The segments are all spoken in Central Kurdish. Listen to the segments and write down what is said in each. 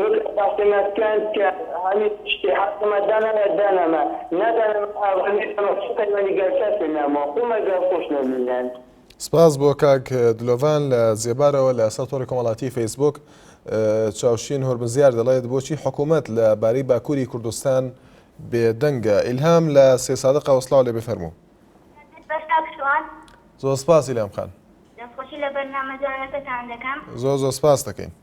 وەک ئەپارتەمان کانت کە هەلی شتێ حاکمە دانەمە دانەمە نادانەمە ئاوا نێدەمە چ پەیوەندی گەل کەس لە نامۆ قومە گەل خوش نە مینان. سپاس بۆ کاک دلۆڤان لە زێبارەوە لە سەر تۆڕی کۆمەڵاتی فەیسبووک چاوشین هۆرمزیار دەڵێت بۆچی حکوومەت لە بارەی باکووری کوردستان بێدەنگە ئیلهام لە سێ سادقەوە سڵاو لێ بفەرموو زۆر سپاس ئیلهام خان دەستخۆشی لە بەرنامە جوانەکەتان دەکەم. زۆر زۆر سپاس دەکەین.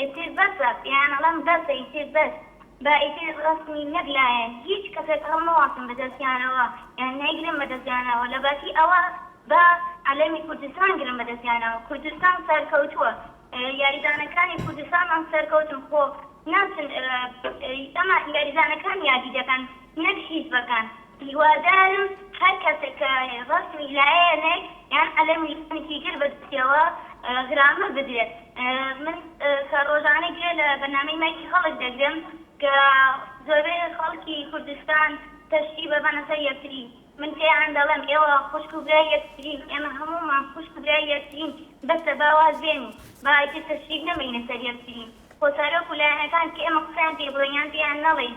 ئیتر بەسە پێیان ئەڵێم بەسە ئیتر بەس با ئیتر ڕەسمی نەک لایەن هیچ کەسێک هەڵمەواسن بە دەستیانەوە یان نەیگرن بە دەستیانەوە لە باتی ئەوە با عەلەمی کوردستان گرن بە دەستیانەوە کوردستان سەرکەوتووە یاریزانەکانی کوردستانمان سەرکەوتن خۆ ناچن ئەمە یاریزانەکان یادی دەکەن نەک حیزبەکان. هیوادارم هەر کەسێک کە ڕەسمی لایەنێک یان قەلەمی لایەنێکی تر بە دەستیەوە گرامر بدرێت من کە ڕۆژانە گوێ لە بەرنامەی مایکی خەڵک دەگرم کە زۆربەی خەڵکی کوردستان تەشتی بەبەنە سەر یەکتری من پێیان دەڵێم ئێوە خوشک و برای یەکترین ئێمە هەموومان خوشک و برای یەکترین بەسە با واز بێنین با ئیتر تەشریک نەمێینە سەر یەکتری خۆ سەرۆک و لایەنەکان کە ئێمە قسەیان پێ بڵێین یان پێیان نەڵێین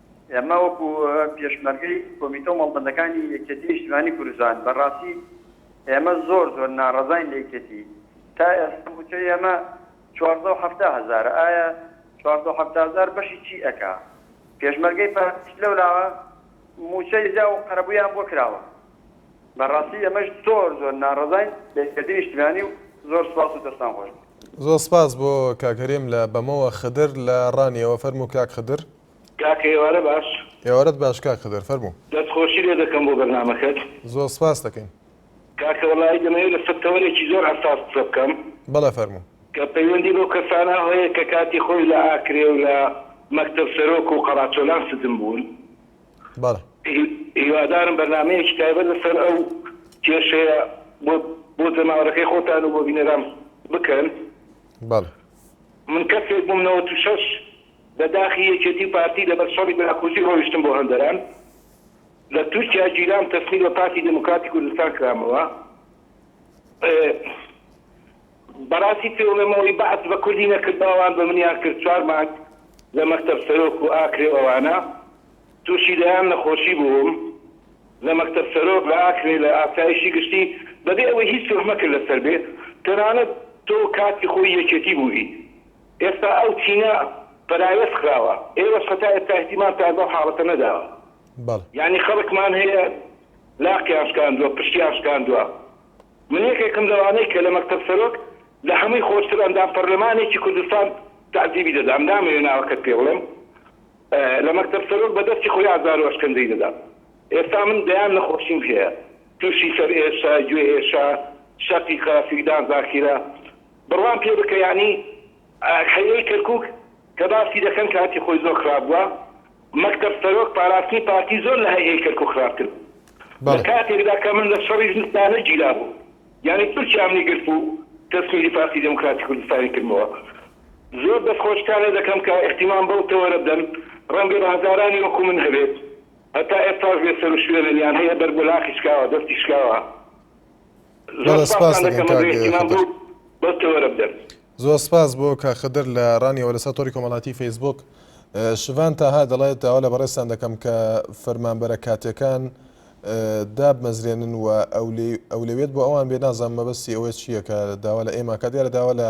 ئێمە وەکو پێشمەرگەی کۆمیتە و مەڵبەندەکانی یەکێتی نیشتیمانی کوردستان بە ڕاستی ئێمە زۆر زۆر ناڕەزاین لە یەکێتی تا ئێستا موچەی ئێمە چواردەو حەفتا هەزارە ئایا چواردەو حەفتا هەزار بەشی چی ئەکا پێشمەرگەی پارتیش لەو لاوە موچەی زیا و قەرەبویان بۆ کراوە بە ڕاستی ئێمەش زۆر زۆر ناڕەزاین لە یەکێتی نیشتیمانی و زۆر سپاس و دەستان خۆش بێ. زۆر سپاس بۆ کاک هەرێم لە بەمەوە خدر لە ڕانیەوە فەرموو کاک خدر. کاکە ئێوارە باش. ئێوارەت باش کاک خدر فەرموو. دەست خۆشی لێ دەکەم بۆ بەرنامەکەت. زۆر سپاست دەکەین. کاکە وەڵایی دەمەوێت لەسەر تەوەرێکی زۆر حەساس قسە بکەم. بەڵێ فەرموو. کە پەیوەندی بەو کەسانە هەیە کە کاتی خۆی لە ئاکرێ و لە مەکتەب سەرۆک و قەڕاچۆلان سجن بوون. بەڵێ. هیوادارم بەرنامەیەکی تایبەت لەسەر ئەو کێشەیە بۆ بۆ جەماوەرەکەی خۆتان و بۆ بینەران بکەن. بەڵێ. من کەسێک بووم نەوەت و شەش. لە داخی یەکێتی و پارتی لەبەر شەڕی براکوژی ڕۆیشتم بۆ هەندەران. لە تورکیا گیرام تەسلیم بە پارتی دێموکراتی کوردستان کرامەوە. بەڕاستی پێی ئەڵێم ئەوەی بەعس بە کوردی نەکرد با ئەوان بە منیان کرد. چوار مانگ لە مەکتەب سەرۆک و ئاکرێ و ئەوانە تووشی دەیان نەخۆشی بووم. لە مەکتەب سەرۆک، لە ئاکرێ، لە ئاسایشی گشتی بەبێ ئەوەی هیچ تۆهمەکت لەسەر بێ. تەنانەت تۆ کاتی خۆی یەکێتی بوویت. ئێستا ئەو چینە پەراوێز خراوە، ئێوەش هەتا ئێستا ئیهتیمامتان بەو حاڵەتە نەداوە. بەڵێ. یانی خەڵکمان هەیە لاقیان شکاندووە، پشتیان شکاندووە. من یەکێکم لەوانەی کە لە مەکتەب سەرۆک لە هەمووی خۆشتر ئەندام پەرلەمانێکی کوردستان تەعزیبی دەدام، نامەوێ ناوەکەت پێ بڵێم، لە مەکتەب سەرۆک بە دەستی خۆی ئازار و ئەشکەنجەی دەدام. ئێستا من دەیان نەخۆشیم هەیە، تووشی سەرئێشە، گوێئێشە، شەقیقە، فیدان زاکیرە. بڕوام پێ بکە یانی حەیرەی کەرکوک کە باسی دەکەن کاتی خۆی زۆر خراپ بوە مەکتەب سەرۆک پاراستنی پارتی زۆر لە هەیئەی کەرکوک خراپتر بو لە کاتێکدا کە من لە شەڕی زستانە گیرا بوم یانی تورکیام لێ گرت و تەسمیری پارتی دێموکراتی کوردستانی کردمەوە زۆر دەست خۆشتان لێ دەکەم کە ئیحتیمام بەو تەوەرە بدەن ڕەنگە بە هەزارانی وەکو من هەبێت هەتا ئێستاش بێ سەرو شوێنن یان هەیە بەر بۆ لاقی شکاوە دەستی شکاوە. زۆر سپاس دەکەم کاک خدر. زۆر سپاس بۆ کاک خدر لە ڕانیەوە لەسەر تۆری کۆمەڵاتی فەیسبوک شڤان تاها دەڵێت داوا لە بەڕێستان دەکەم کە فەرمانبەرە کاتەکان دابمەزرێنن و ئەولوێت بۆ ئەوان بێ نازان مەبەستی ئەوە چییە کە داوا لە ئێماکە دیارە داوا لە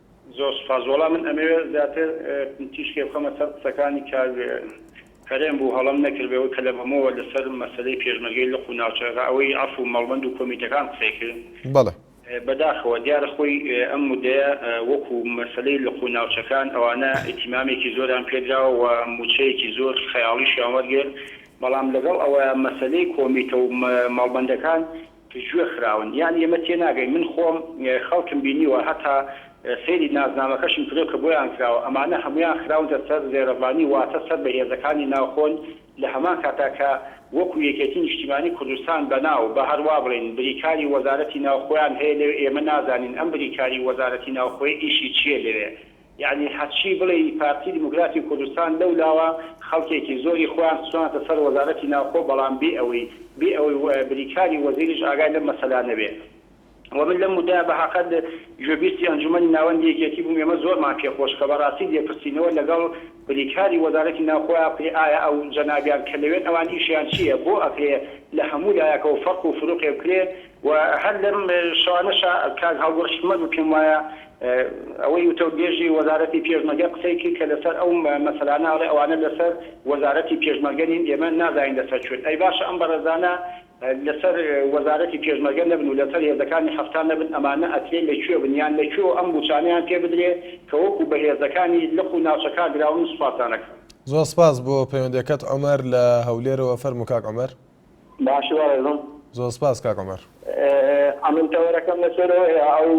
زۆر سوپاس وەڵا من ئەمەوێ زیاتر تیشکێ بخەمە سەر قسەکانی کاک هەرێم بوو هەڵەم نەکرد ئەوەی کە لە بەمەوە لەسەر مەسەلەی پێشمەرگەی لق و ناوچەکە ئەوەی عەفو و مەڵبەند و کۆمیتەکان قسەی کرد بەڵێ. بەداخەوە دیارە خۆی ئەم مدەیە وەکو مەسەلەی لق و ناوچەکان ئەوانە ئیتیمامێکی زۆریان پێدراوە و موچەیەکی زۆر خەیاڵیشیان وەرگرت بەڵام لەگەڵ ئەوەیا مەسەلەی کۆمیتە و مەڵبەندەکان جوێ خراون یانی ئێمە تێناگەین من خۆم خەڵکم بینیوە هەتا سەیری نازنامەکەشم کردوە کە بۆیان کراوە ئەمانە هەموویان خراونتە سەر زێرەڤانی واتە سەر بە هێزەکانی ناوخۆن لە هەمان کاتا کە وەکو یەکێتی نیشتیمانی کوردستان بەناو با هەر وابڵێین بریکاری وەزارەتی ناوخۆیان هەیە لەوێ ئێمە نازانین ئەم بریکاری وەزارەتی ناوخۆیە ئیشی چیە لەوێ یەعنی هەرچی بڵێی پارتی دیموکراتی کوردستان لەو لاوە خەڵکێکی زۆری خۆیان خستوانەتە سەر وەزارەتی ناوخۆ بەڵام بێ ئەوەی بێ ئەوەی بریکاری وەزیریش ئاگای لەم مەسەلانە بێ وە من لەم مودایە بەهەقە گوێبیستی ئەنجومەنی ناوەندی یەکێتی بووم ئێمە زۆرمان پێ خۆش کە بەڕاستی لێپرسینەوە لەگەڵ بریکاری وەزارەتی ناوخۆیا بکرێ ئایا ئەو جەنابیان کە لەوێن ئەوان ئیشیان چیە بۆ ئەکرێ لە هەموو لایەکەوە فەرق و فروقێ بکرێ و هەر لەم شەوانەشا کاک هەڵگوڕ حیکمەت و پێم وایە ئەوەی وتەوبێژی وەزارەتی پێشمەرگە قسەی کرد کە لەسەر ئەو مەسەلانە ئەڵێ ئەوانە لەسەر وەزارەتی پێشمەرگە نین ئێمە نازانین لەسەر کوێن ئەی باشە ئەم بەڕێزانە لەسەر وەزارەتی پێشمەرگە نەبن و لەسەر هێزەکانی حەفتا نەبن ئەمانە ئەکرێ لە کوێ بن یان لە کوێ و ئەم مووچانەیان پێ بدرێ کە وەکوو بە هێزەکانی لق و ناوچەکان دراون سوپاستان ئەکەم. زۆر سپاس بۆ پەیوەندیەکەت عومەر لە هەولێرەوە فەرموو کاک عومەر. باشی بەڕێزم. زۆر سپاس کاک عومەر. ئەمن تەوەرەکەم لەسەر ئەوەیە ئەو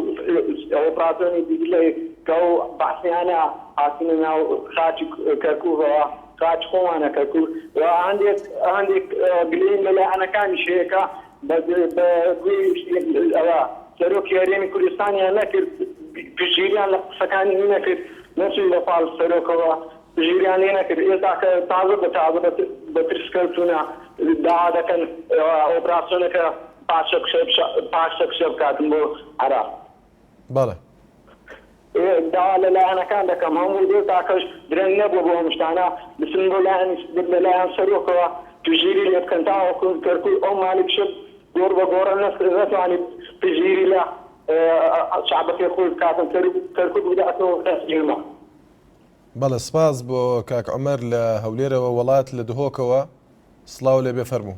ئۆپراسۆنی دیجلەی کە ئەو بەعسیانە هاتنە ناو خاکی کەرکوکەوە خاکی خۆمانە کەرکوک و هەندێک هەندێک گلەییم لە لایەنەکانیش هەیە کە بە بە گوێی ئەوە سەرۆکی هەرێمی کوردستانیان نەکرد پشتگیریان لە قسەکانی نەکرد نەچووی لە پاڵ سەرۆکەوە ژیریان لێ نەکرد ئێستا کە تازە بە تازە بە ترس کەوتونە داوا دەکەن ئۆپراسیۆنەکە پاشە پاشە کشە بکاتن بۆ عراق. بەڵێ. داوا لە لایەنەکان دەکەم هەموو دێ تاکەش درەنگ نەبوو بۆ ئەم شتانە بچن بۆ لایەنی لە لایەن سەرۆکەوە پژیری لێ بکەن تاوەکو کەرکوک ئەو مالیک شت گۆڕ بە گۆڕە نەسر نەتوانانی پژیری لە شعبەکەی خۆی بکاتن کەرکوک بداتەوە ئێمە بەڵێ سپاس بۆ کاک عومەر لە هەولێرەوە وەڵات لە دهۆکەوە سڵاو لێ بێ فەرموو.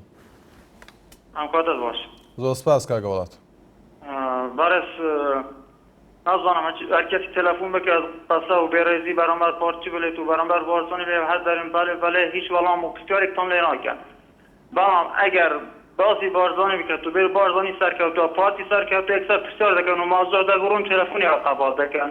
ئەم خوا دەست باش. زۆر سپاس کاک وەڵات. بەڕێز نازانم هەر کەسیک تەلەفون بکات قەسە و بێڕێزی بەرامبەر پارتی بلێت و بەرامبەر بارزانی بلێت هەر دەرێن بەلێ بەلێ هیچ وەڵام و پرسیارێکتان لێ ناکەن بەڵام ئەگەر باسی بارزانی بکات و بێت بارزانی سەرکەوتوە پارتی سەرکەوتوە یەکسەر پرسیار دەکەن و مازوح دەگوڕن تەلەفونی ئەو قەبات دەکەن.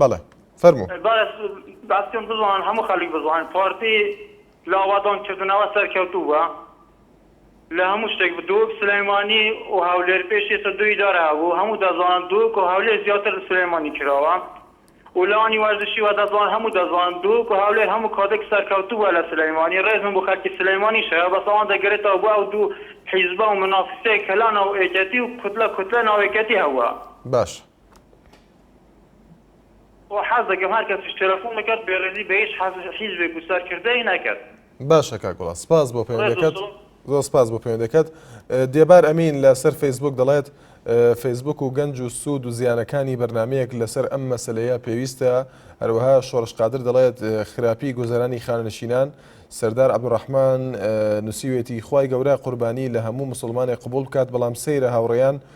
بەڵێ فەرموو بەس باسکەم بزان هەموو خەلیک بزان پارتی لاوادان کردنەوە سەرکەوتوو بە لە هەموو شتێک بدوک سلەیمانی و هەولێر پێشی سە دووی دارە هەبوو هەموو دەزان دوک و هەولێر زیاتر لە سلەیمانی کراوە و لانی وەرزشی وە دەزان هەموو دەزان دوک و هەولێر هەموو کادێک سەرکەوتوو بە لە سلەیمانی ڕێزم بۆ خەلکی سلەیمانی شەیە بەس ئەوان دەگرێتەوە بۆ ئەو دوو حیزبە و منافسەیە کەلا ناو ئێکەتی و کوتلە کوتلە ناوێکەتی هەوە باشە و حەز دەکەم هەر کەسیش تێلەفون بکات بێڕێزی بە هیچ حەز حیزبێک و سەرکردەی نەکات. باشە کاک وڵات سپاس بۆ ڕێز و پەیوەندەکەت سڵ. زۆر سپاس بۆ پەیوەندەکەت دێبار ئەمین لە سەر فەیسبوک دەڵێت فەیسبوک و گەنج و سود و زیانەکانی بەرنامەیەک لە سەر ئەم مەسەلەیە پێویستە هەروەها شۆڕش قادر دەڵێت خراپی گوزەرانی خانەنشینان سەردار عبدالرحمن نوسیوێتی خوای گەورە قوربانی لە هەموو مسوڵمانێک قبوڵ بکات بەڵام سەیرە هاوڕێیان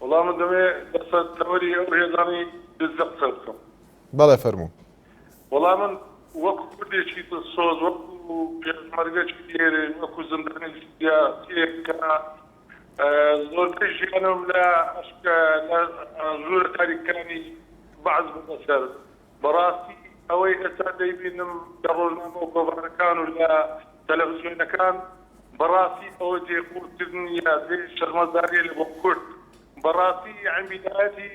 وەڵا من دەمەوێ لەسەر تەوەری ئەو هێزانەی دزە قسە بکەم. بەڵێ فەرموو. وەڵا من وەکو کوردێکی دڵسۆز وەکو پێشمەرگەکی دێرین وەکو زندانی سیاسیەک کە زۆربەی ژیانم لە ئەشکە لە ژوورە تاریکەکانی بەعس بردە سەر بەڕاستی ئەوەی ئێستا دەیبینم لە ڕۆژنامە و گۆڤارەکان و لە تەلەفزیۆنەکان بەڕاستی ئەوە جێی قورکردن نیە جێی شەرمەزاریە لە بۆ کورد بەڕاستی یەعنی بیدایەتی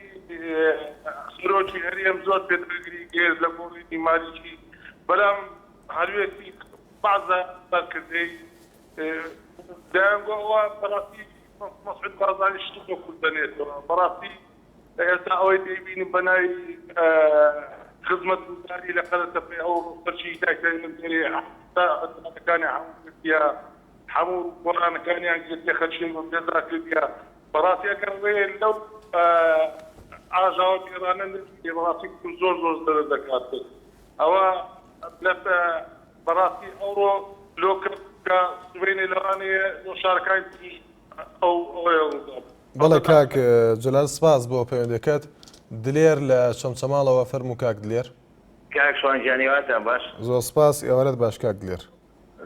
سەرۆکی هەرێم زۆر پێداگری گێژ لە گۆڕینی مالیکی بەلام هەلوێستی بەعزە سەرکردەی دەیانگۆ ئەوە بەڕاستی مەسعود بازانی شتی بۆ کورد دەنێتەوە بەڕاستی ئێستا ئەوەی دەیبینم بە ناوی خزمەتگوزاری لە قەرەتەپەی ئەو خەرکی دایکانی من دێنێ تا ئەتومەکانی هەموو گرتیە هەموو گۆرانەکانیان گرتیە خەرکیان بۆ بێزار کردیە بەڕاستی ئەگەر ڕێ لەو ئاژاوە گێرانە نەگیرێ بەڕاستی بکم زۆر زۆر زەرەر دەکات ئەوە لەت بەڕاستی ئەوڕۆ لۆ کەرکوکە سبەینێ لە ڕانێ لۆ شارەکانی تری ئەو ئەوەیە ڕوودابوو. بەڵێ کاک جەلال سپاس بۆ پەیوەندەکەت دلێر لە چەمچەماڵەوە فەرموو کاک دلێر. کاک شوان گیان هیواتان باش. زۆر سپاس ئێوارەت باش کاک دلێر.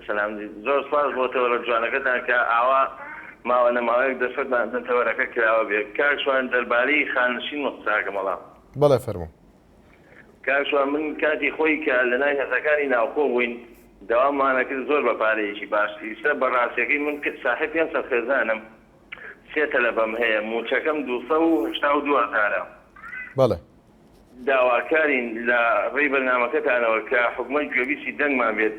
سەلام زۆر سپاس بۆ تەوەرە جوانەکەتان کە ئاوا ماوە نەماوەیەک دەرفەتمان بدەن تەوەرەکە کراوە بێ. کاک شوان دەربارەی خانشین من قساکەم بەڵام. بەڵێ فەرموو. کاک شوان من کاتی خۆی کە لە ناوی هەرزەکانی ناوخۆ بووین داوامانەکرد زۆر بە پارەیەکی باش ئیستا بە ڕاستیەکەی من ساحێب پێنج سەد خێزانم سێ تەلەبەم هەیە موچەکەم دوو سەد و هەشتا و دوو هەزارە. بەڵێ. داواکارین لە ڕێی بەرنامەکەتانەوە کە حکومەت گوێبیستی دەنگمان بێت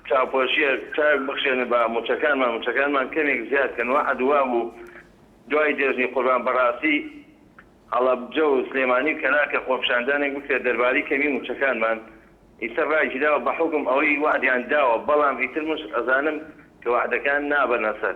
چاوپۆشیەک چاک بخشێن بە موچەکانمان موچەکانمان کەمێک زیاد کەن وەعد وابوو دوای جەژنی قوربان بەڕاستی هەڵەبجە و سلێمانی و کەناکە خۆپیشاندانێک بکرێت دەربارەی کەمی موچەکانمان ئیتر ڕایگیراوە بەحوکم ئەوەی وەعدیان داوە بەڵام ئیتر مش ئەزانم کە وەعدەکان نابەنە سەر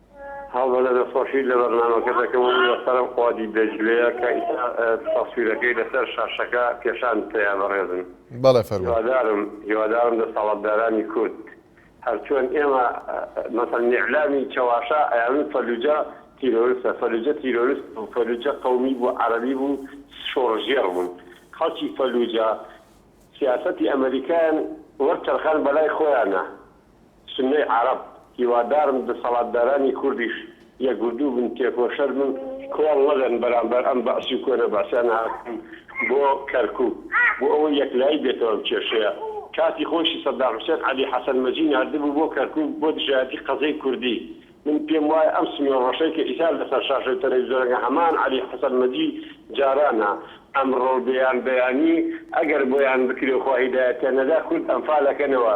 هەڵبەتە دەستخۆشیت لە بەرنامەکە دەکەم و لەسەرم قوادی دەجلەیە کە ئیستا تەسویرەکەی لەسەر شاشەکە پێشانت پێیا بەڕێزم بەڵێ فەرموو. هیوادارم هیوادارم دەسەڵاتدارانی کورد هەر چۆن ئێمە مەسەلەن ئیعلامی چەواشە ئەیانوت فەلوجە تیرۆرستە فەلوجە تیرۆرست نەبوو فەلوجە قەومی بوو عەرەبی بوو شۆڕشگێڕ بوون خەڵکی فەلوجە سیاسەتی ئەمەریکایان وەرچەرخاند بەلای خۆیانا سونەی عەرەب، هیوادارم دەسەڵاتدارانی کوردیش یەکگردوو بن، تێکۆشەر بن، کۆڵ نەدەن بەرامبەر ئەم بەعسی و کۆنە بەعسیانە هاتوون بۆ کەرکوک بۆ ئەوەی یەکلایی بێتەوە ئەم کێشەیە، کاتی خۆیشی سەدام حوسێن عەلی حەسەن مەجی ناردبوو بۆ کەرکوک بۆ دژایەتی قەزێی کوردی، من پێم وایە ئەم سمێڵڕەشەی کە ئیسا لەسەر شاشەی تەلەویزۆنەکە هەمان عەلی حەسەن مەجی جارانە، ئەمڕۆ بێیان بەیانی ئەگەر بۆیان بکرێ و خوا هیدایەتیان نەدا کورد ئەنفال ئەکەنەوە،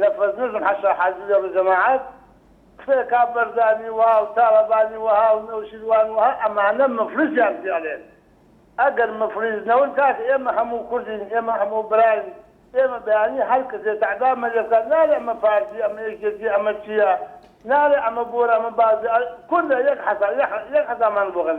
نەفەس نەزم حەشا حاجی لە ڕوی جەماعەت قسەی کاک بەرزانی وەها و تاڵەبانی وەها و نەوشیروان وەها ئەمانە مفلیسیان پێ ئەلێن ئەگەر مفلیس نەون کاکە ئێمە هەموو کوردین ئێمە هەموو براین ئێمە بەیانی هەر کەسێ تەعدامە لێ بکات نالێ ئەمە پارتی ئەمە یەکێتی ئەمە چیە نالێ ئەمە بۆرە ئەمە بازە کوردە یەک حەسا یەک حەسامان بۆ کەن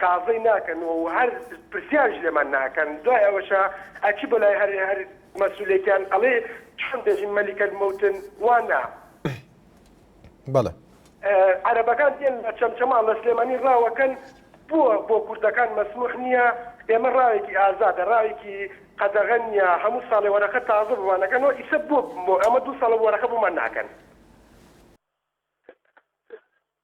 تازەی ناکەن و هەر پرسیاریش لێمان ناکەن دوای ئەوەشا ئەچی بۆلای هەر هەر مەسولێکیان ئەڵێی چۆن دەژین مەلیک الموتن وا نا. بەڵێ. عەرەبەکان دێن لە چەمچەماڵ لە سلێمانی ڕاوەکەن بۆ بۆ کوردەکان مەسموح نیە ئێمە ڕاوێکی ئازادە ڕاوێکی قەدەغە نیە هەموو ساڵێ وەرەخە تازە بۆمان ئەکەنەوە ئیسە بۆ بۆ ئەمە دوو ساڵە وەرەخە بۆمان ناکەن.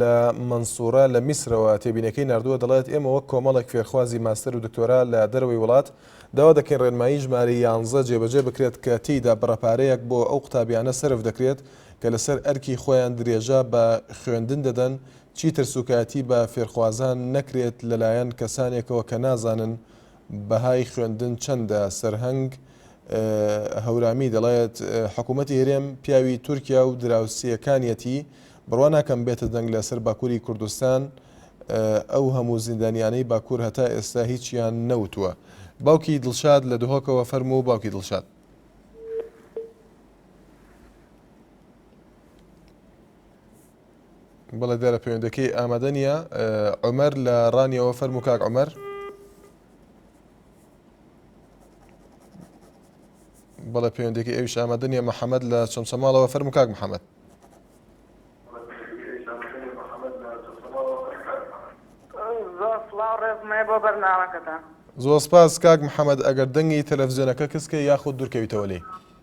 لە مەنسورە لە میسرەوە تێبینەکەی ناردووە دەڵێت ئێمە وەک کۆمەڵێک فێرخوازی ماستەر و دکتۆرا لە دەرەوەی وڵات داوا دەکەین ڕێنمایی ژمارە یانزە جێبەجێ بکرێت کە تێیدا بڕە پارەیەک بۆ ئەو قوتابیانە سەرف دەکرێت کە لەسەر ئەرکی خۆیان درێژە بە خوێندن دەدەن چیتر سوکایەتی بە فێرخوازان نەکرێت لەلایەن کەسانێکەوە کە نازانن بەهای خوێندن چەندە؟ سەرهەنگ هەورامی دەڵێت، حکومەتی هەرێم پیاوی تورکیا و دراوسێکانیەتی، بڕوا ناکەم بێتە دەنگ لە سەر باکوری کوردستان، ئەو هەموو زیندانیانەی باکور هەتا ئێستا هیچیان نەوتووە. باوکی دڵشاد لە دهۆکەوە، فەرموو باوکی دڵشاد. بەڵێ دیارە پەیوەندەکەی ئامادە نییە عمر لە ڕانیەوە فەرم و کاک عمر بەڵێ پەیوەندەکەی ئەوش ئامادە نیە محەممەد لە چەمچە ماڵەوە فەرم و کاک محەممەد زۆر سپاس کاک محەممەد ئەگەر دەنگی تەلەڤزیۆنەکە کەسکە یاخود دوورکەویتەوە لێی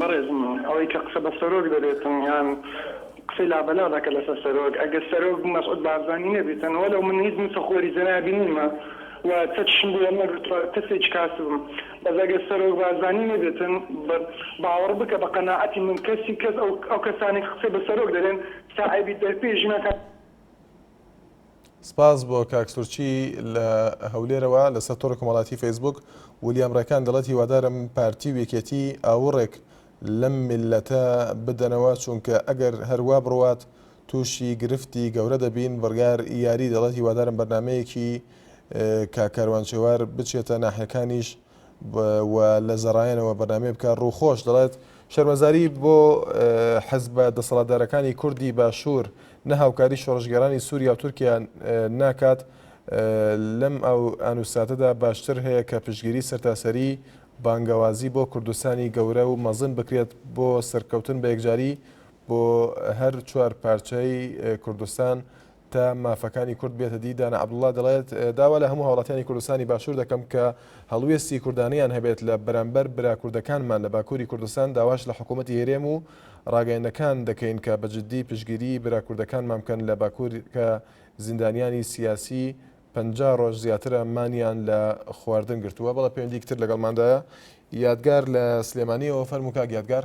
بەڕێزم ئەوەی کە قسە بە سەرۆک دەبێتن یان قسەی لابەلا دەکە لەسەر سەرۆک ئەگەر سەرۆک مەسعود بارزانی نەبیتن وەلەو من هیچ نوسەخۆری جەنابی نیمە و چەکیشم بۆ وەرنەگرتوە کەسێکی کاسبم بەس ئەگەر سەرۆک بارزانی نەبیتن باوەڕ بکە بە قەناعەتی من کەسی کەس ئەو کەسانەی قسەی بە سەرۆک دەرێن تا ئەبیت دەرپێی ژنەکان سپاس بۆ کاک سورچی لە هەولێرەوە لەسەر تۆڕی کۆمەڵاتی فەیسبوک ولیام ڕێکان دەڵێت هیوادارم پارتی و یەکێتی ئاوڕێک لەم میللەتە بدەنەوە چونکە ئەگەر هەروا بڕوات تووشی گرفتی گەورە دەبین بڕیار یاری دەڵێت هیوادارم بەرنمەیەکی کاک کاروان چێوار بچێتە ناحیەکانیش و لە زەڕایەنەوە بەرنامەی بکات ڕووخۆش دەڵێت، شەرمەزاری بۆ حزبە دەسەڵاتدارەکانی کوردی باشوور نە هاوکاری شۆڕشگێڕانی سووریا و تورکیا ناکات لەم ئان و ساتەدا باشتر هەیە کە پشتگیری سەرتاسەری بانگەوازی بۆ کوردستانی گەورە و مەزن بکرێت بۆ سەرکەوتن بەیەکجاری بۆ هەر چوار پارچەی کوردستان تا مافەکانی کورد بێتە دی، دانا عەبدوڵا دەڵێت، داوا لە هەموو هاوڵاتیانی کوردستانی باشوور دەکەم کە هەڵوێستی کوردانەیان هەبێت لە بەرامبەر برا کوردەکانمان لە باکووری کوردستان، داواش لە حکوومەتی هەرێم و ڕاگەیەندنەکان دەکەین کە بە جددی پشتگیریی برا کوردەکانمان بکەن لە باکوور کە زیندانیانی سیاسی پەنجا ڕۆژ زیاترە مانیان لە خواردن گرتووە. بەڵێ پەیوەندییەکی تر لەگەڵماندایە یادگار لە سلێمانییەوە، فەرموو کاک یادگار.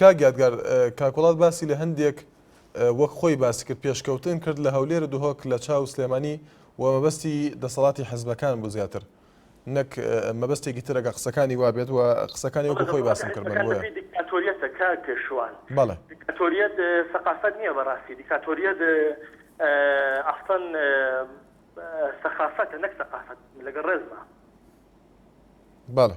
کاک یادگار کاک وڵات باسی لە هەندێک وەک خۆی باسی کرد پێشکەوتن کرد لە هەولێر دهۆک لە چاو سلێمانی و مەبەستی دەسەڵاتی حزبەکان بوو زیاتر نەک مەبەستێکی ترەکە قسەکانی وابێت و قسەکانی وەکو خۆی باسم کرد دیکتاتۆریەتە کاک پێشوان بەڵێ دیکتاتۆریەت سەقافەت نییە بەڕاستی دیکتاتۆریەت ئەسڵەن سەخافەتە نەک سەقافەت لەگەڵ ڕێزما بەڵێ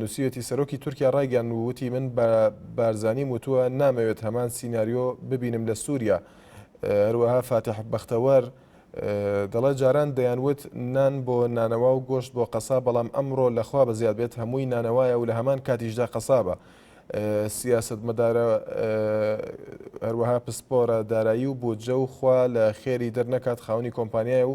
نووسیوێتی سەرۆکی تورکیا ڕایگەیاند و وتی من بە بارزانیم وتووە نامەوێت هەمان سیناریۆ ببینم لە سووریا. هەروەها فاتیح بەختەوەر دەڵێت جاران دەیانوت نان بۆ نانەوا و گۆشت بۆ قەساب بەڵام ئەمڕۆ لە خوا بەزیاد بێت هەمووی نانەوایە و لە هەمان کاتیشدا قەسابە. سیاسەتمەدارە هەروەها پسپۆرە دارایی و بودجە و خوا لە خێری دەرنەکات خاوەنی کۆمپانیایە و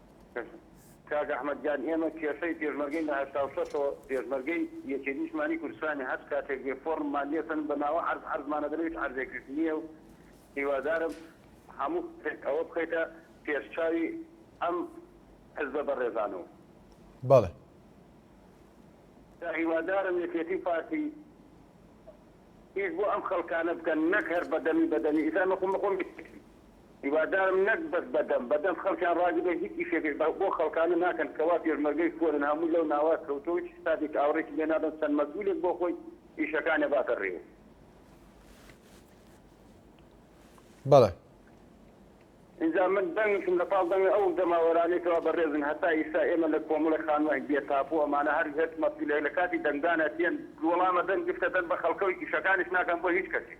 کاک ئەحمەد گیان ئێمە کێشەی پێشمەرگەین لە هەشتا و شەش ەوە پێشمەرگەی یەکێتی نیشتمانی کوردستانین هەر کاتێک بێ فۆڕممان لێ سەند بە ناوە عەرز عەرزمان ئەدەن هیچ عەرزێکیش نییە و هیوادارم هەموو کەسێک ئەوە بخەیتە پێش چاوی ئەم حزبە بەڕێزانە و بەڵێ. جا هیوادارم یەکێتی و پارتی ئیش بۆ ئەم خەڵکانە بکەن نەک هەر بە دەمی بە دەمی ئیتر ئەمە خۆ من خۆم یەکێتیم هیوادارم نەک بەس بە دەم بە دەم خەڵکیان ڕاگرن هیچ ئیشێکش بۆ خەڵکانە ناکەن کە وا پێشمەرگەی کۆنن هەموو لەو ناوە کەوتوە هیچ حسابێکی ئاوڕێکی لێ نادەن چەند مەسئولێک بۆ خۆی ئیشەکانێ باتە ڕێوو. بەڵێ. ئینجا من دەنگیشم لە پاڵ دەنگی ئەو جەماوەرانەی کەوا بەڕێزن هەتا ئیستا ئێمە لە کۆمەڵی خانووانی بێ تاپۆ ئەمانە هەر هێچ مەسئولێک لە کاتی دەنگدان ئەچێن دووڵامە دەنگ گفتە دەن بە خەڵکەو ئیشەکانیش ناکەن بۆ هیچ کەسێک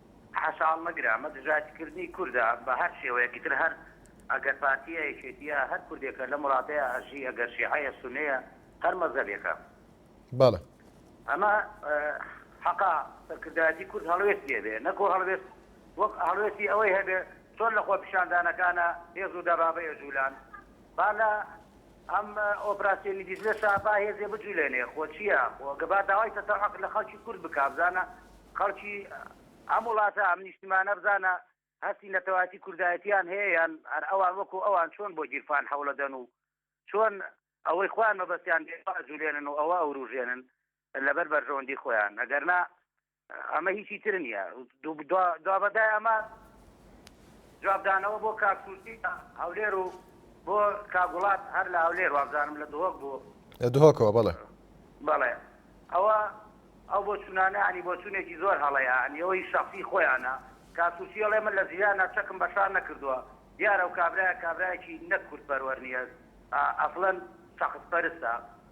حەشاڵ مەگرە ئەمە دژایەتی کردنی کوردە بە هەر شێوەیەک ئیتر هەر ئەگەر پارتیە یەکێتیە هەر کوردێکە لەم وڵاتەیا ئەژی ئەگەر شیعەیە سونەیە هەر مەزەبێکە. بەڵێ. ئەمە حەقە سەرکردایەتی کورد هەڵوێستی هەبێ نەکۆ هەڵوێست وەک هەڵوێستی ئەوەی هەبێ چۆن لە خۆپیشاندانەکانا هێز و دەبابەی ئەجولان با لە ئەم ئۆپراسیۆنی دیجلە شا با هێزێ بجولێنێ خۆ چیە خۆ گە با داوای تەسە عق لە خەڵکی کورد بکا بزانە خەڵکی ئەم وڵاتە ئەم نیشتیمانە بزانە هەستی نەتەوایەتی کوردایەتیان هەیە یان هەر ئەوان وەکو ئەوان چۆن بۆ گیرفان حەوڵەدەن و چۆن ئەوەی خۆیان مەبەستیان بێ ئەجولێنن و ئەوە ئەوروژێنن لە بەر بەرژەوەندی خۆیان ئەگەر نا ئەمە هیچی تر نیە دوابەدای ئەمە جوابدانەوە بۆ کاک سروشتی لە هەولێر و بۆ کاک وڵات هەر لە هەولێر وابزانم لە دهۆک بوو لە دهۆکەوە بەڵێ بەڵێ ئەوە ئەو بۆ چونانە ینی بۆ چونێکی زۆر هەڵەیە ینی ئەوەی شەخصی خۆیانە کاک سروشتی ئەڵێ من لە ژیانا چەکم بە شار نەکردووە دیارە و کابرایە کابرایەکی نەک کورد پەروەر نیە ئەسڵەن شەخص پەرستە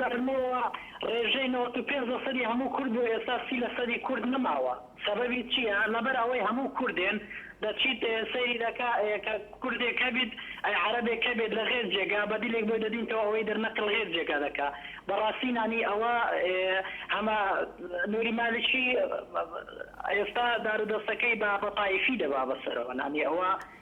لەبەرمەوە ڕێژەی نەوەد و پێنج لەسەدی هەموو کورد بوو ئێستا سی لەسەدی کورد نەماوە سەبەبی چیە لەبەر ئەوەی هەموو کوردێن دەچیت سەیری دەکا کە کوردێک هەبیت ئەی عەرەبێک هەبێت لە غێر جێگا بە دیلێک بۆی دەدینتەوە ئەوەی دەر نەقل غێر جێگا دەکا بەڕاستی نانی ئەوە هەمە نوری مالکی ئێستا دارودەستەکەی بە بە تایفی دەبا بەسەرەوە نانی ئەوە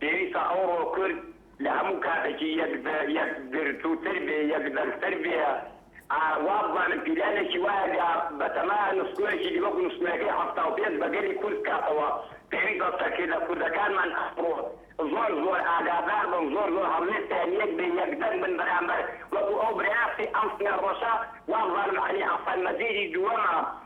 پێویستە ئەوڕۆ کورد لە هەموو کاتەکی یەکگرتووتر بێ، یەکدەنگتر بێ. وابزانم پیلانێکی وایە گا بەتەمایە نووستنەوەیەکی دی وەکو نووستنەوەکەی حەفتا و پێنج بە گەلی کورد بکاتەوە. پێویستە سەرکردە کوردەکانمان ئەمڕۆ زۆر زۆر ئاگادار بن، زۆر زۆر هەڵوێستیان یەک بێ، یەکدەنگ بن بەرامبەر وەکو ئەو برای ئەم سمێڵ ڕەشە، وابزانم عەلی حەسەن مەزیدی دووەمە،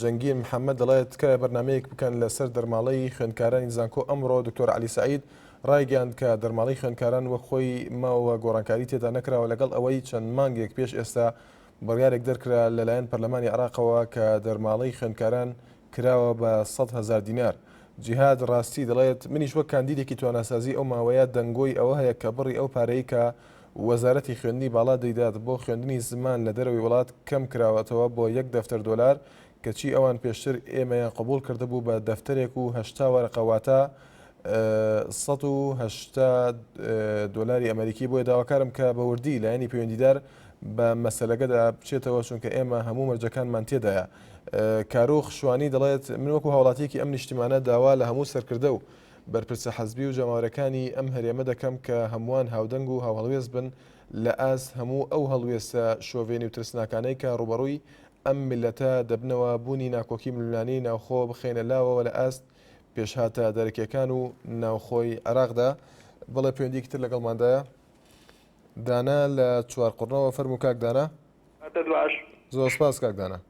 جەنگین محەممەد دەڵێت تکایە بەرنمەیەک بکەن لەسەر دەرماڵەی خوێندکارانی زانکۆ ئەمڕۆ دکتۆر علی سعید ڕایگەاند کە دەرماڵی خوێندکاران وەک خۆی ماوە گۆڕانکاری تێدا نەکراوە لەگەڵ ئەوەی چەند مانگێک پێش ئێستا بڕیارێک دەرکرا لەلایەن پەرلەمانی عراقەوە کە دەرماڵەی خوێندکاران کراوە بە 100 هزار دینار. جیهاد ڕاستی دەڵێت منیش وەک کاندیدێکی تواناسازی ئەو ماوەیە دەنگۆی ئەوە هەیە کە بڕی ئەو پارەی کە وەزارەتی خوێندنی باڵا دەیدات بۆ خوێندنی زمان لە دەرەوەی وڵات کەم کراوەتەوە بۆ یەک دەفتەر دۆلار، کەچی ئەوان پێشتر ئێمەیان قبوڵ کردبوو بە دەفتەرێک و هەشتا وەرەقە واتە سەد و هەشتا دۆلاری ئەمەریکی بۆیە داواکارم کە بە وردی لایەنی پەیوەندیدار بە مەسەلەکەدا بچێتەوە چونکە ئێمە هەموو مەرجەکانمان تێدایە کارۆخ شوانی دەڵێت من وەکو هاوڵاتیەکی ئەم نیشتیمانە داوا لە هەموو سەرکردە و بەرپرسە حزبی و جەماوەرەکانی ئەم هەرێمە دەکەم کە هەمووان هاودەنگ و هاوهەڵوێست بن لە ئاست هەموو ئەو هەڵوێستە شۆڤێنی و ترسناکانەی کە ڕووبەڕووی ئەم میللەتە دەبنەوە بوونی ناکۆکی ململانێی ناوخۆ بخەینە لاوەوە لە ئاست پێشهاتە دەرەکیەکان و ناوخۆی عێراقدا بەڵێ پەیوەندیەکی تر لەگەڵماندایە دانا لە چوارقوڕنەوە فەرموو کاک دانا. هەتە دواش. زۆر سپاس کاک دانا.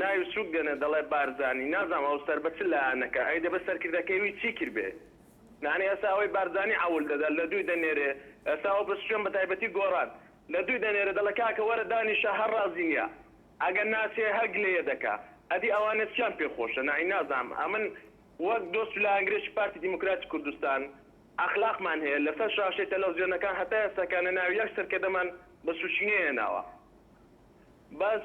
ناوی سوک دێنێ دەڵێ بارزانی نازانم ئەو سەر بە چ لایەنەکە ئەی دەبێ سەرکردەکەی وی چی کردبێ یانی ئێستا ئەوەی بارزانی عەول دەدا لە دووی دەنێرێ ئێستا ئەو پسچوێن بە تایبەتی گۆران لە دووی دەنێرێ دەڵێ کاکە وەرە دانیشە هەر ڕازی نیە ئەگەر ناچێ هەر گلەیێ دەکا ئەدی ئەوانە چیان پێ خۆشە نائی نازانم ئەمن وەک دۆست و لایەنگرێکی پارتی دیموکراتی کوردستان ئەخلاقمان هەیە لە سەر شاشەی تەلەفزیۆنەکان هەتا ئێستاکە نە ناوی یەک سەرکردەمان بە سوکی نەهێناوە بەس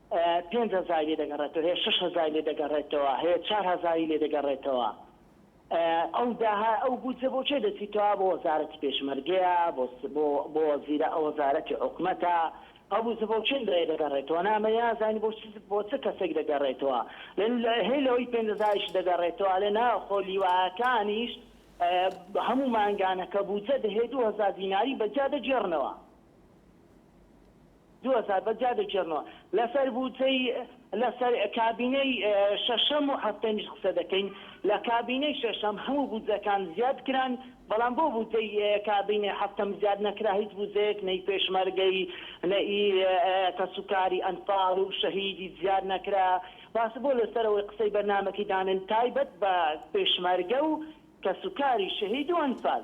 پێنج هەزاری لێ دەگەڕێتەوە هەیە شەش هەزاری لێ دەگەڕێتەوە هەیە چار هەزاری لێ دەگەڕێتەوە ئەو داها ئەو بودجە بۆ چێ دەچیتەوە بۆ وەزارەتی پێشمەرگەیە بۆ بۆ بۆ وەزیرە ئەو وەزارەتی حکومەتە ئەو بودجە بۆ چێن دەیە دەگەڕێتەوە نامە یازانی بۆ چ بۆ چ کەسێک دەگەڕێتەوە لەن لە هەی لەوەی پێنج هەزاریش دەگەڕێتەوە لە نا خۆ لیواکانیش بە هەموو مانگانەکە بودجە دەهەیە دوو هەزار دیناری بە جیا دەگێڕنەوە دوو هەزار بەس جا دەگێڕنەوە لەسەر بودجەی لەسەر کابینەی شەشەم و حەفتەمیش قسە دەکەین لە کابینەی شەشەم هەموو بودجەکان زیاد کران بەڵام بۆ بودجەی کابینەی حەفتەم زیاد نەکرا هیچ بودجەیەک نەی پێشمەرگەی نەئی کەسوکاری ئەنفاڵ و شەهیدی زیاد نەکرا باسە بۆ لەسەرەوەی قسەی بەرنامەکەی دانێن تایبەت بە پێشمەرگە و کەسوکاری شەهید و ئەنفال.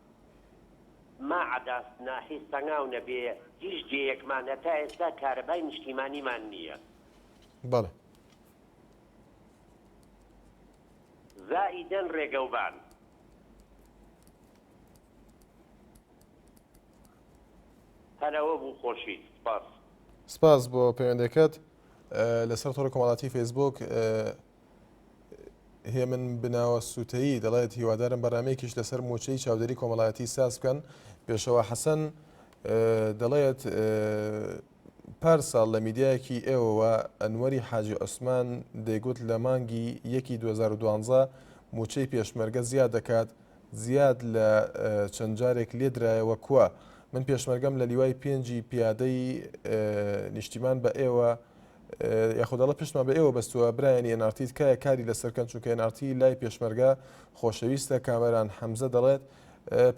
ما عەداس ناحی سەنگاو نەبێ هیچ دێیەکمان هەتا ئێستا کارەبای نیشتیمانیمان نییە. بەڵێ. زائیدەن ڕێگەوبان. هەر ئەوە بوو خۆشیت سپاس. سپاس بۆ پەیوەندەکەت لەسەر تۆڕی کۆمەڵاتی فەیسبووک. هێمن بناوە سووتەیی دەڵێت هیوادارم بەرنمەیەکیش لەسەر موچەی چاودێری کۆمەڵایەتی ساز بکەن پێشەوە حەسەن دەڵێت پار ساڵ لە میدیایەکی ئێوەوە ئەنوەری حاجی عوسمان دەیگوت لە مانگی یەکی 2012 موچەی پێشمەرگە زیاد دەکات زیاد لە چەند جارێک لێدرایەوە کووە من پێشمەرگەم لە لیوای پێنجی پیادەی نیشتیمان بە ئێوە یاخود ئەڵێ پشتمان بە ئێوە بەستووە برایانی NRT تکایە کاری لەسەر کەن چونکە NRT لای پێشمەرگە خۆشەویستە کامەران حەمزە دەڵێت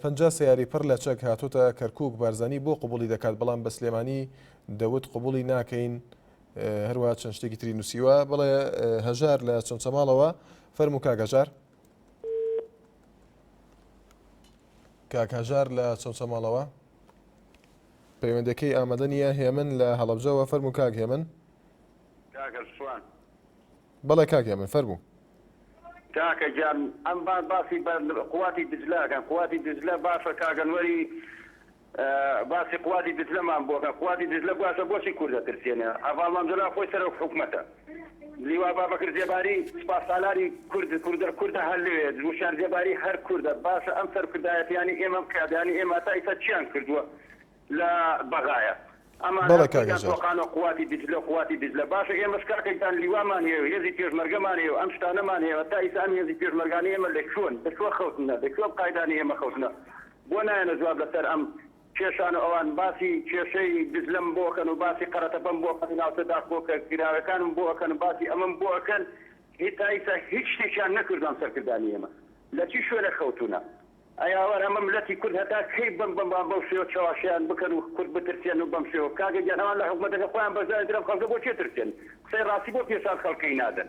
پ سیاری پڕ لە چەک هاتۆتە کەرکک بارزانانی بۆ قوبولی دەکات بەڵام بە سلێمانی دەوت قوبولی ناکەین هەروە چەند شتێکی تری نووسیوە بڵێ هەژار لە چەند چەماڵەوە فەرم و کاگەژار کاکەژار لە چەند چەماڵەوە پەیوەندەکەی ئامادە نییە هێمن لە هەڵەبجەوە فەرمو کاک هێمن بەڵێ کاک هێمن فەرمو کاکە گیان ئەم بان باسی بە قواتی دجلاکەن قواتی دجلە باشە کاگەنوەری باسی قواتی دجلەمان بۆکە قواتی دجلە باشە بۆچی کوردە ترسێنە هەڤاڵ مامجەلال خۆی سەرۆک حکومەتە. لیوا بابەکر زێباری سوپاسالاری کورد کوردە کوردە هەر لەوێ وشیان زێباری هەر کوردە باشە ئەم سەرکردایەتیانی ئێمەم قیادانی ئێمە تا ئیستا چیان کردوە لە بەغایە ئەمانە بەڵێ کاک هەژار. تۆقانە قواتی دجلە قواتی دجلە باشە ئێمەش کاکە گیان لیوامان هەیە و هێزی پێشمەرگەمان هەیە و ئەم شتانەمان هەیە تا ئیستا ئەم هێزی پێشمەرگانە ئێمە لە کوێن لە کوێ خەوتنە لە کوێ ئەم قایدانە ئێمە خەوتنە بۆ نایەنە جواب لەسەر ئەم کێشان و ئەوان باسی کێشەی دجلەم بۆ ئەکەن و باسی قەرەتەپەم بۆ ئەکەن و ناوچە داخۆکە کراوەکانم بۆ ئەکەن و باسی ئەمەم بۆ ئەکەن هی تا ئیستا هیچ شتێکیان نەکردوە ئەم سەرکردانی ئێمە لە چی شوێنێک خەوتونە ئەی ئاوار ئەمە ملەتی کورد هەتا کەی بەم بەم بەم بەو شێوە چەواشەیان بکەن و کورد بترسێن و بەم شێوە کاکە گیان ئەوان لە حکومەتەکە خۆیان بەشدارن تر ئەم خەڵکە بۆ چێ ترسێن قسەی ڕاستی بۆ پێشان خەڵکەی نادەن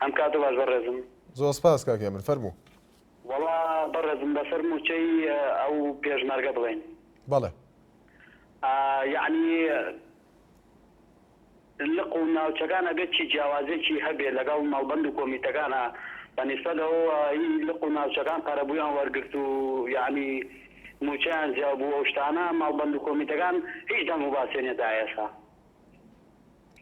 ئەم کاتە باش بەڕێزم. زۆر سپاس کاک هێمن فەرموو. وەڵا بەڕێزم لەسەر مووچەی ئەو پێشمەرگە بڵێین. بەڵێ. ئا یەعنی لق و ناوچەکان ئەگەر چی جیاوازیەکی هەبێ لەگەڵ مەڵبەند و کۆمیتەکانا بە نیسبەت ئەوەوە ئی لق و ناوچەکان قەرەبوویان وەرگرت و یەعنی مووچەیان زیاو بوو ئەو شتانە مەڵبەند و کۆمیتەکان هیچ دەنگ و باسیان نیە تا ئێسا.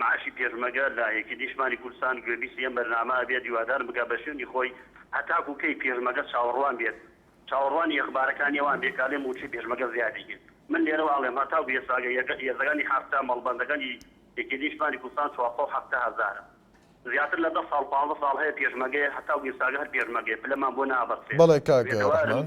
معاشی پێشمەگە لە یەکێتی نیشتمانی کوردستان گوێبیستی ئەم بەرنامە ئەبێت هیوادارم بگات بە شوێنی خۆی هەتاکو کەی پێشمەگە چاوەڕوان بێت چاوەڕوانی ئەخبارەکانی ئەوان بێت کالێ موچەی پێشمەگە زیادی کرد من لێرەوە ئەڵێم هەتاکو ئێستاگە یەزەگانی حەفتا مەڵبەندەگەنی یەکێتی نیشتمانی کوردستان چوارسەد و حەفتا هەزارە زیاتر لە دە ساڵ پانزە ساڵ هەیە پێشمەگەیە هەتاکو ئێستاگە هەر پێشمەگەیە پلەمان بۆ نابەستێت بەڵێ کاک ڕەحمان